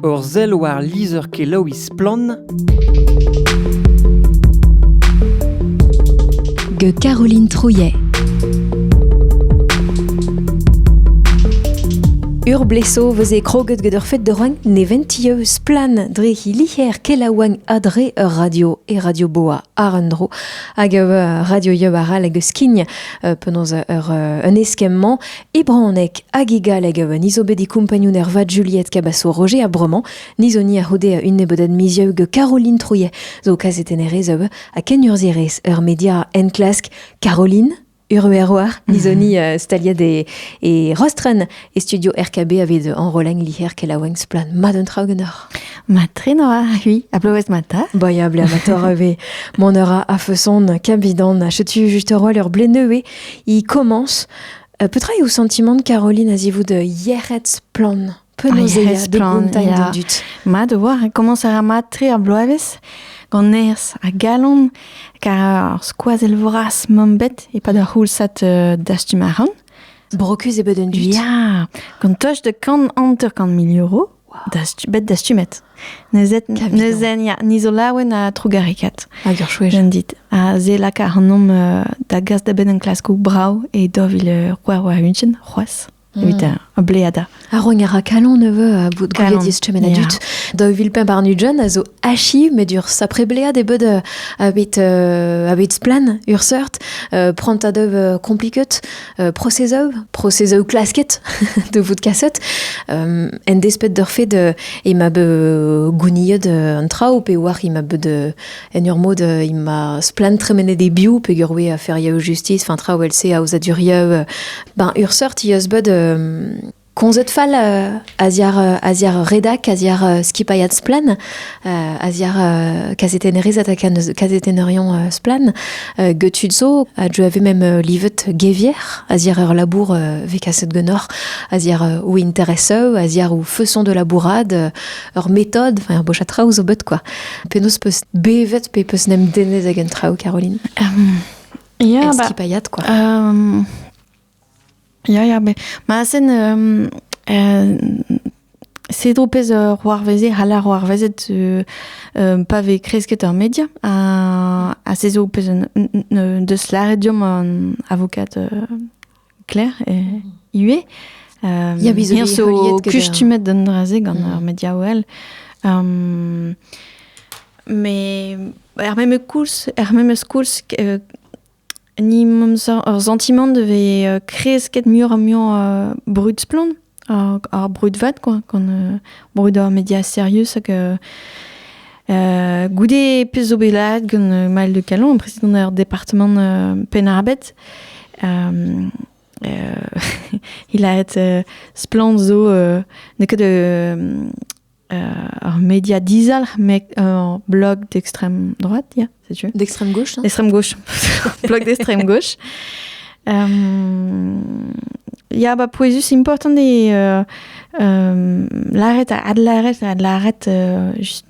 Ur sell war lizher-kelaouiñ Splann! gant Caroline Trouillet. Ur bleso vez e kroget gant ur fed de roing neventio splan dre he liher kelaouañ adre ur radio e radio boa ar un dro hag ur radio yub arall hag skign penaos ur un eskemm-mañ E bronneg hag e galleg a oa niz bet e kompagnun ervat Juliette Cabasso-Roger a bromañ, niz oni a c'houde un nebeudat mizieu gant Caroline Trouillet zo kazetennerez a oa ha kenurzhierez ur media enklask. Caroline Urueroar, nizoni uh, staliad e, e Rostren, e studio RKB aved enroleng liher kelaouenk splan mat un traoù genoc'h. Ma trenoa, oui, a bloez mata. Boya ble amator ave, mon eur a feson, kabidan, a chetu juste roal ur ble neuve, i commence Petra eo sentimant Caroline a-zivout yec'hed splann Penaos splann, da dud. Mat o voir, komañs a ra mat-tre ar bloavezh gant nerzh ha galon, kar ar skoazell vras mam bet e-pad ar c'houlsad uh, dastum a ran. Brokus e bed un dud. Ya, gant toch de kant hanter-kant mil euro bet dastumet. Nezen, ya, ni zo laouen ha trugarekaat. Hag ur chouez. Jen dit. Ha ze laka ac'hanomp uh, da gas da benn en klaskoù brao e dov il uh, c'hwar war unchen, c'hoaz. Mm. Evit uh, bleada. Ar rogn a ra kalon neveu a bout gouiet distumen a dut. Da vil pemp ar Nugent a zo achi met ur sapre blead e bed a bet a bet splen ur seurt prant a dev compliquet euh, processeù, processeù klasket de vout kaset, euh, en despet d'ur fait de e ma be gouniet un trao pe war i ma be de en ur mod i ma splan tremenet de biou pe gurwe a fer yaou justice, fin trao el se a oza durieu, ben ur sort i eus bet komzet fall a-ziar a-ziar redak, a-ziar skipailhad Splan, a-ziar kazetennerez ha kazetenerion Splan, getud zo a deu ave mem livet gevier, a-ziar ur labour vez kaset genoc'h, a-ziar ou intereseu, a-ziar ou feuson de labourat, ur metod, enfin ur boch a traoù zo bet quoi. Penaos peus bevet pe peus nem denez ag un traoù, Caroline? Um, yeah, skipailhat quoi. Um, Ya, ya, bet. Ma sen euh, euh, Cedro pez euh, c'hoarveze, c'hall ar c'hoarvezet euh, euh, pa vez kresket ur media, ha, ha se zo pez un- un- un- deus lâret deomp an avokat euh, Claire euh, ivez. Euh, Ya, biz zo Hier bet zo heuliet get, kustumet d'an dra-se gant Mm. ar media OL. Um, me er memes koulz, er memes koulz euh, Ni ar santimant da vez kresket muioc'h ha muioc'h brud-splann, ar brud-vat quoi, gant brud ar media serius hag goude pezh zo bet laeret gant Maël de Callon, president ar departamant Penn-ar-Bed, he laret splann zo n'eo ket Ar media dizalc'h, met ur blog d'extrême droite, yeah, setu. D'extrême gauche, hein D'extrême gauche, blog d'extrême gauche. Um, ja, ba pouezus important eo uh, um, lâret a adlâret a adlâret uh, just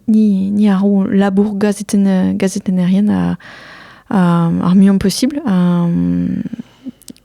ni ni ar labour gazeten uh, gazetennerien a, a, ar muian possible. Um,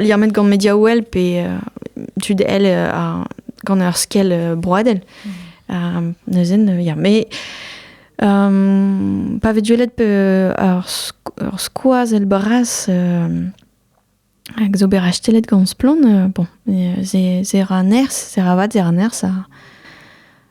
liammet gant Mediawell pe tud elle gant ur skell broadel. Mm. neuzen, ya, mais pa vez duellet ur skoaz el bras hag zo bet rastelet gant Splon, bon, se ra nerz, se ra vat, se ra nerz,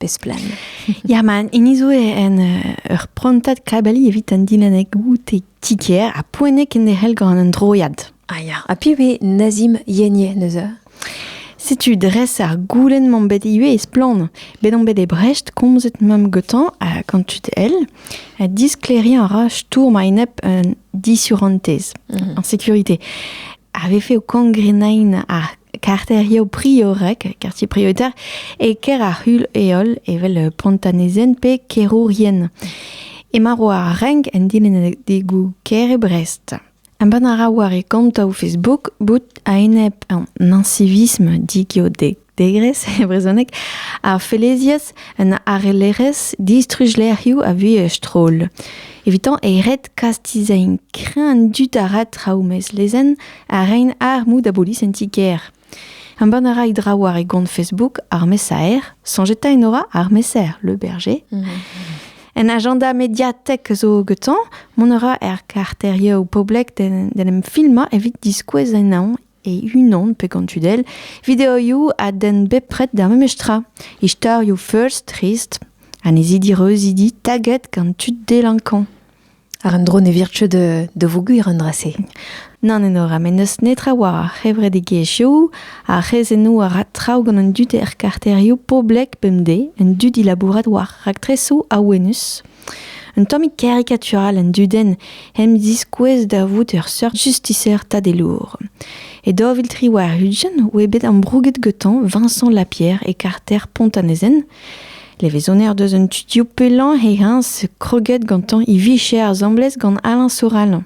Besplan. Ya, man, hini zo en uh, ur prantad kabali evit an dilennek goute tiker ha poenek en derc'hel gant an droiad. Ah ya. Ha pi ve Nazim Yenye neuze? Setu dres ar goulen m'am bet ivez e splann. Bet on bet e Brecht komzet mam gotan a quand tu el, a diskleriñ a ra stourm a-enep un disurantez, mm -hmm. en sécurité. Avait fait au cangrenain ar karterioù priorek, kartier prioritaire, e ker ar c'hul heol evel pontanezen pe kerourien. Emañ war ar renk en dilennadegoù kêr e Brest. Embann a ra war e kontoù Facebook bout a-enep an ancivisme digeodegres e brezhoneg, ar felezias un arellerezh distruj-lec'hioù a vue stroll. Evitañ e red kastizañ krenn dud a ra traoù mezlezenn a rein armoù da bolis en ti-kêr. Embann a ra e draoù war e gont Facebook ar mesaer, soñjeta enora ar mesaer Le Berger. Mhm. Un agenda mediatek zo getañ, mont a ra er karterioù poblek d'en em filmañ evit diskouez ennañ e-unan pe gant tudell videoioù a den bepred d'ar memes tra. Istorioù first, trist, annezidi reuzidi taget gant tud delankañ. Ar un dro ne vir ket da voger an dra-se. Nann enora, met n'eus netra war ar c'hevredigezhioù, ar c'hrezennoù a ra traoù gant an dud er karterioù poblek bemdez, an dud dilabourat war raktresoù awenus. Un tammig karikatural an dudenn hemp diskouez da vout ur seurt justiser tadelour. E daoviltri war Hudgen oa bet ambrouget gantañ Vincent Lapierre e karter Pont-an-Ezen. Levezoner deus an studioù pellañ he heñs kroget gantañ e vicher asambles gant Alain Soral.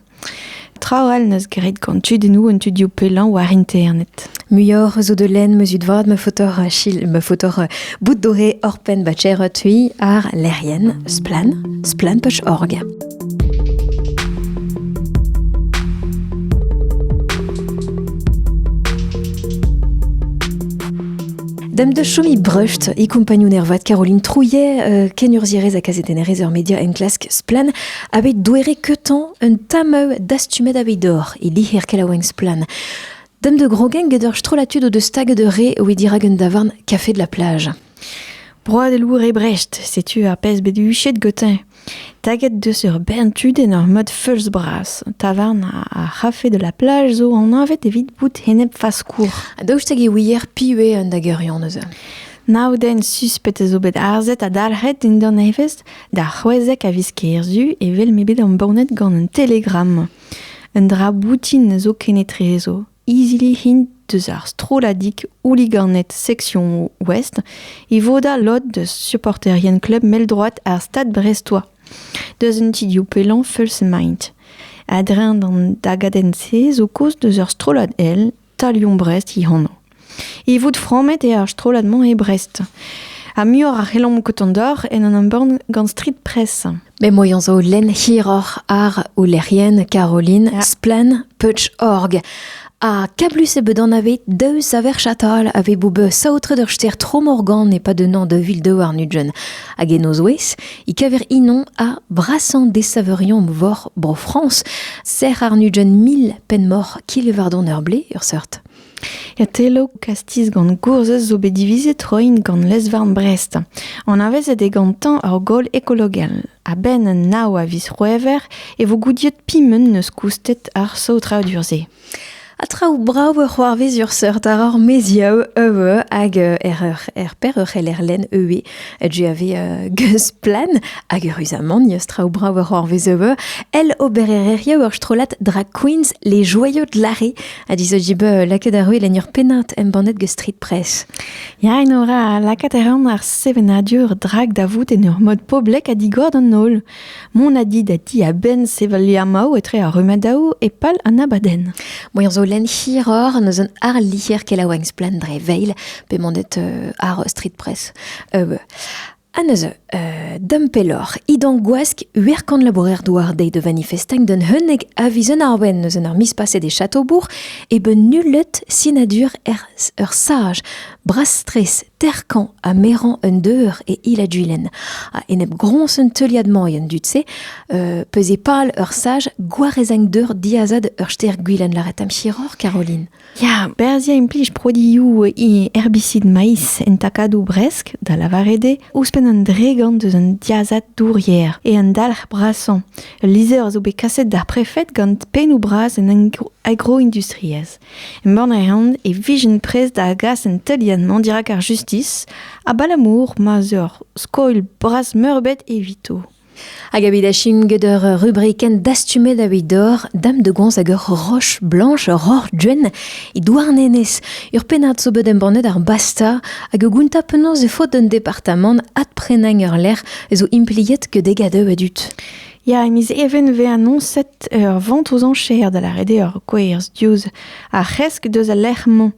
Traoù all n'eus graet gant tudennoù an tudioù pellañ war internet. Muioc'h zo de lenn meus ut vat ma fotor chil, ma fotor euh, bout doré orpen ba tcher tui ar lec'hienn splan, splan.org. Dam da chomi breust e kompagnon ervat Caroline Trouillet, euh, kenurzhierez ha kazetennerez ur media enklask Splan, bet douere keutañ un tameu dastumet aveit dor e liher kelaouenn Splan. Dam de grogen get ur strollatud o deus stag de re oe dirak un davarn kafe de la plage. Broad e lour e Brecht, setu ar pezh bet huchet gotin. Taget deus ur bern tudenn ur mod feulz-bras. Tavarn ar c'hafe de la plage zo anavet evit bout enep-faskour. Ha daoust hag e ouier piv eo an dageurion eus Nav den suspet a zo bet arzet ha dalc'het dindan evezh d'ar c'hwezek a viz kerzu evel m'eo bet embannet gant un telegramm. Un dra boutin zo kenetrezo. Izili int deus ar strolladig houliganed seksion Ouest e vodañ lod deus supporterien klub mell-droad ar stad Brestois, deus un ti-div pellañ feuls-emaint. A-dreñv d'an dagadenn-se zo kaoz deus ur strollad èl Talion Brest he anv. E vout frammet eo ar strollad-mañ e Brest. Ha muioc'h a c'hellomp kontañ deoc'h en un embann gant Street Press. M'emañ zo lenn hiroc'h àr o lec'hienn Caroline Splann Peutz-Org. Ha kablus eo bet anavet daou saver chatal a vez bout bet saotret ur stêr Tromorgan e-pad un an da vil daouarn ugent. Hag en o zouez e kaver inoñ ha brasañ desaveurion vor Bro-Frañs. Sec'h àr nugent mil penn-moc'h Kilevardon-ar-Blez, ur seurt. Otelloù, kastiz gant gourzhez zo bet divizet roiñ gant lez-varn Brest. Anavezet eo gantañ ur gaol ekologel. A-benn nav a viz C'hwevrer e vo goudiet piment neus koustet ar saotradur-se. Ha traoù brav a c'hoarvez ur seurt àr ar maezioù euv hag er, er per ur c'heller lenn euv GAV Geusplan hag eüruzamant neus traoù brav a c'hoarvez euv el obererezhioù ur strollad drag queens Les Joyaux de l'Arrée ha dizo dib lakaet ar ruil en ur pennad embannet gant Street Press. Ya, Enora, lakaat a ran ar sevenadur drag da vout en ur mod poblek ha digor d'an holl. Mont a di da ti a-benn sevel liamaoù etre ar rumadaoù e pal an abadenn. Boan zo len hiror n'eus un ar lier kelaouenn splendre veil, pe mandet euh, ar Street Press. Euh, Ha neuze, euh, dam pelloc'h, idan gwask uerkan labourer douar deiz de manifestang d'un heunek aviz un arbenn eus en ur mis paset e chateaubourg e ben nullet sinadur er ur saj brastres terkan ha meran un deur e il a duilen. Ha enep grons un teuliad mañien dut-se, euh, peus e pal ur saj gwarezang deur diazad ur ster gwilen laret am chiror, Caroline. Ya, berzhiañ implij produioù herbicide maiz en takadoù bresk, da lavaret eo, ouzhpenn an dregont eus an diazad dourier e an dalc'h brasañ. Ul lizher a zo bet kaset d'ar prefed gant pennoù bras an agroindustriezh. Embann a reont e vijent prest da gas an teuliad-mañ dirak ar justis, abalamour ma 'z eur skoilh bras-meurbet evito. Hag evit achim get ur rubrikenn dastumet evit dor, dam de goñs hag ur roch blanch, ur roc'h guen e Douarnenez. Ur pennad zo bet embannet ar Basta hag ur gounta penaos e faot d'un departamant adprenañ ur lec'h a zo impliet que degadoù e dud. Ya, e miz Even e vez anoñset ur vont ouzh enchère da lâret eo ur gwerz diouzh ar c'hresk deus al lec'h-mañ.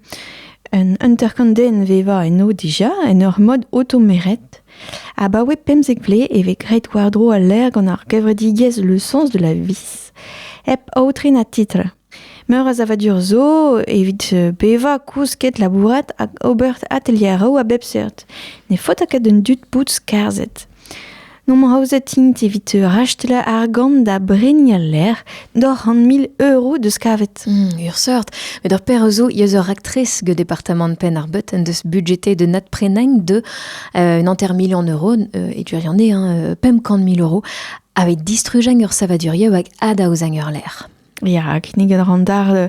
Un hanter-kant den 'vevañ eno dija en ur mod automeret. Abaoe pemzek vlez e vez graet war-dro al lec'h gant ar gevredigezh Le Sens de la Vie, hep aotre na titl. Meur a savadur zo evit bevañ, kousket, labourat hag ober atelieroù a bep seurt. Ne faota ket d'an dud bout skarzhet. N'omp aozet int evit rachetal argant da bregnañ lec'h, Doc'h an mil euro deus kavet. Hmm, ur seurt. Met ur per zo eus ur raktres gant departamant Penn-ar-Beut en deus budgeté de nat prenain de euh, un enter million euro, euh, et tu en hein, pemp kant mil euro, avec distrugen ur savadurieu avec adaouzang ur l'air. Ja, kinniget ran dar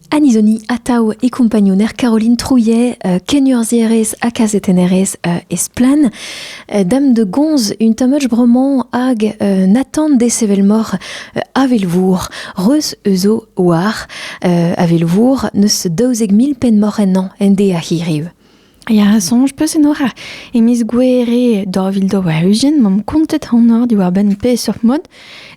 Anizoni atav e kompagnonner Caroline Trouillet, euh, kenurzhierez ha kazetennerez euh, esplan. Euh, dame de gonz, un tamach bremañ hag euh, Nathan desevel-mor euh, avelvour, reus euzo war avelvour neus daouzek mil penn mor ennañ ende a hiriv. Ya, soñj peus enoch e miz Gouere daou vil daou-ugent m'omp kontet anor diwar-benn peseurt mod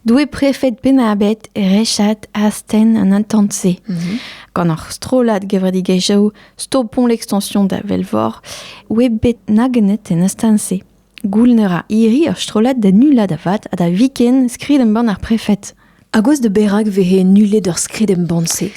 doe prefed Penn-ar-Bed rechat astenn an intant-se. Mhm. Gant ar strollad gevredigezhioù Stopont l'extension da Velvor oe bet nagennet en astenn-se. Gouln a ra hiri ur strollad da nullañ da vat ha da viken skrid-embann ar prefed. A gouez da berak vehe nullet ur skrid-embann-se?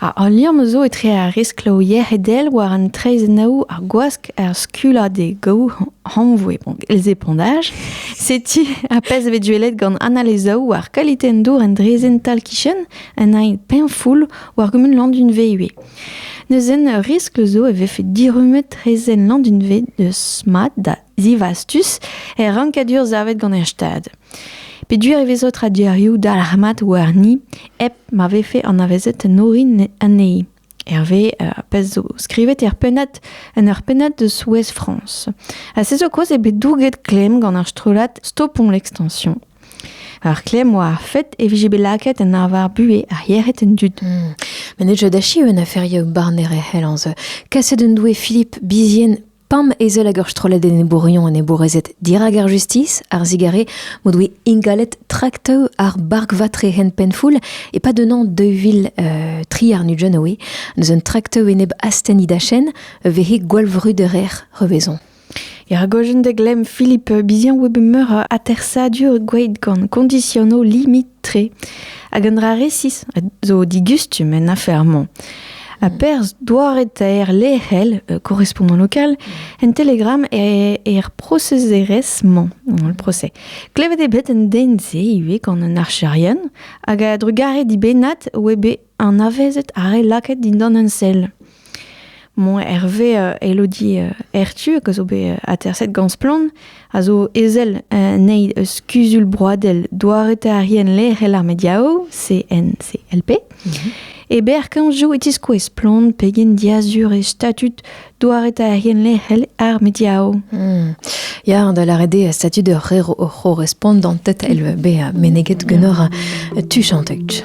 Ha al liamm zo etre ar riskloù yec'hedel war an traezhennoù, ar gwask, ar skullañ d'e gaou hanvoe els épondage. Setu ar pezh bet gwelet gant Anna Lezaou war kalite an dour en draezhenn tal-kichen, un aen peñfoul war gumun Landunve ivez. Neuzen, ur riskl zo e vefe dirummet reizhenn Landunved eus mat da zivastus er rankadur savet gant er Stad. Peduer e vezo tradurioù dalc'hmat warni hep ma vefe anavezet en orin anezhi. Hervé euh, a pez zo skrivet er pennad en ur pennad de Souez France. Ha se zo koaz eo bet douget klemm gant ar strollad Stopon l'extension. Ar klemm oa ar fed e vije bet lakaet en arvar buhez ar yec'hed en dud. Hmm. Met ne deu da achiv un aferioù barner e c'hellañs. Kaset en doe Philippe Bizien pam ezel hag ur strollad enebourion enebourezed dirak ar justis, ar zigare m'o doe ingalet traktaoù ar barkvatre hen penfoul e-pad un an 2000 euh, tri ar Nujanoe, eus un traktaoù enep astenni dachenn, vehe gwallvruderer revezon. Er gojenn da glemm Philippe biziañ oa bet meur a atersadur gweet gant kondisionoù limit-tre, hag un dra resis zo digustum en afer-mañ. Ha perzh doare-taer lec'hel euh, korrespondant local en Telegram er, er prosezerezh-mañ, le procès. Klevet eo bet un den-se ivez gant un archerien hag a drugarez dibennat oa bet anavezet ar re lakaet dindan un sell. Moñ Hervé euh, Elodie euh, Hertu, que zo bet euh, aterset gant Splann, a zo ezel nei eus Kuzul Broadel doaretarien lec'hel ar mediao, CNCLP. Mhm. E ber kanjou e tiskouez Splann pegen diazur e statut Douaretaerien lec'hel ar mediaoù. Hmm. Ya, da lâret eo statut ur c'her o c'horrespont d'an tête el bezañ meneget genoc'h tu chantek.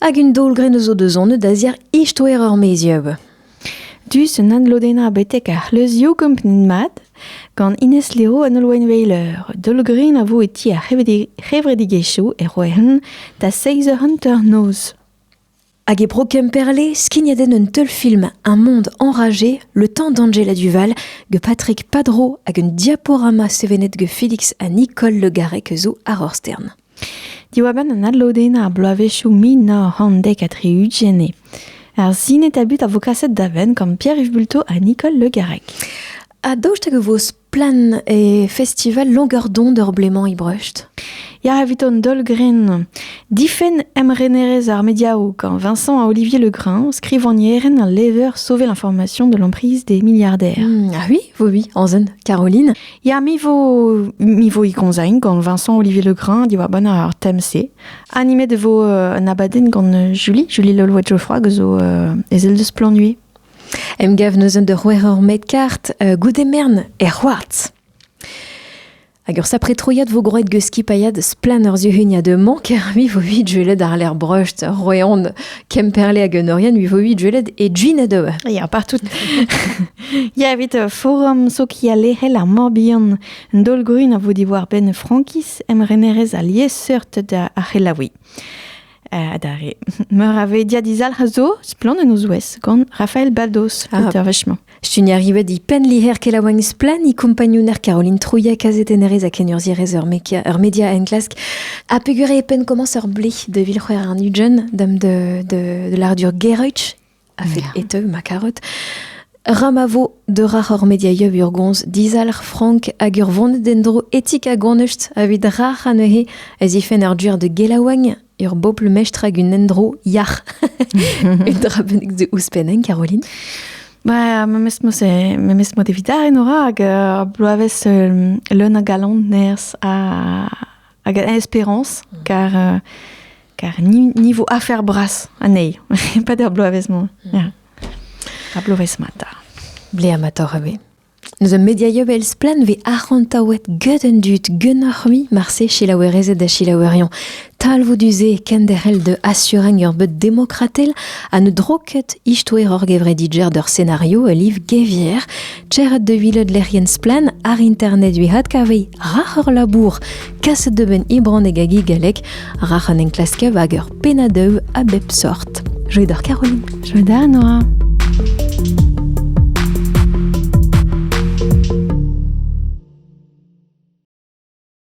Hag un daol-grenn zo deus anvet da-ziar istoer ur mezieub. Dus un adlodennañ betek ar c'hleuzioù kompren mat gant Ines Leo an Holwenweiler. Daol-grenn a vo e ti ar c'hevredigezhioù e Rouen da 6 eur hanternoz. Hag e Bro Kemperle, skignet en un teulfilm Un monde enragé, le temps d'Angela Duval, ge Patrick Padro hag un diaporama sevenet ge Felix ha Nicole Le Garrec zo ar Orstern. Diwar-benn an adlodennañ ar bloavezhioù mil nav c'hant dek ha tri-ugent eo ar sinetabut a vo kaset da benn gant Pierre-Yves Bulto ha Nicole Le Garrec. Ha daoust hag e vo splann e festival Longardon d'ur blez-mañ Ibrecht Ya evit an daol-grenn. Difenn emrenerezh ar mediaoù gant Vincent ha Olivier Legrin, skrivagnerenn ha lever Sauver l'information de l'emprise des milliardaires. Hmm, ah oui, oui, oui, en zen, Caroline. Ya, mi vo, mi vo ikonzain gant Vincent Olivier Legrain diwar ban ar tem-se. Animet e vo euh, un abadenn gant euh, Julie, Julie Lolwe Geoffroy, zo euh, ezel deus Planui. Emgav neuzen de c'hwer ur met kart euh, goude mern er c'hoartz. Hag ur sapre troiad vo groet geus skipailhad splan ur zuhuniañ de mank, mi vo vid jueled ar ler breust, roeon, kemperle hag un orien, mi vo vid jueled e gin a deue. Ya, partout. Ya, evit uh, forum sokialerel ar Morbihan, un daol-grun a vo diwar-benn Frankiz, emrenerez ha liesseurt da ar c'helaouiñ. Uh, adarre. Meur a ve diadizalc'h a zo, splann en o zouez, gant Raphaël Baldos, ah. auteur vechement. Stun arrivet di pen liher kelaouagn splan i kompagnouner Caroline Trouillet kazetennerez a kenurzierez ur media, ur media enklask a pegure e pen komañs ur ble de vil c'hwer an ujen dam de, de, de l'ardur Gereutch a-fet e teu ma karet. Ra ma vo deurac'h hor mediaioù urgons dizalc'h frank hag ur vont d'en-dro etik ha gonust evit rac'h anezhe a zifen ur duer de gelaouagn, ur bobl mestr hag un endro yac'h. Un dra bennak de ouzhpenn, Caroline Ba, memes mod memes mod evit ar en ora hag uh, bloavezh uh, leun a galon nerzh ha hag a espérance, car euh, car niveau affaire brasse anezhi, pas der bloavezh-mañ. A bloavezh-mata. Ble amator a Nous a mediaio vel splan ve arc'hantaouet get un dud genoc'h-mi marse chilaouerezed da chilaouerion. Talvou du-se kenderc'hel de assureng ur bet demokratel a ne droket istoer hor gevredidger d'ur scenario a liv gevier Tec'het da welet lec'hienn Splann ar internet evit adkaviñ rac'h ur labour kaset da benn e bronneg hag e galleg rac'h an enklasker hag ur pennadev a bep sort. Joie d'or Caroline. Joie da Noa.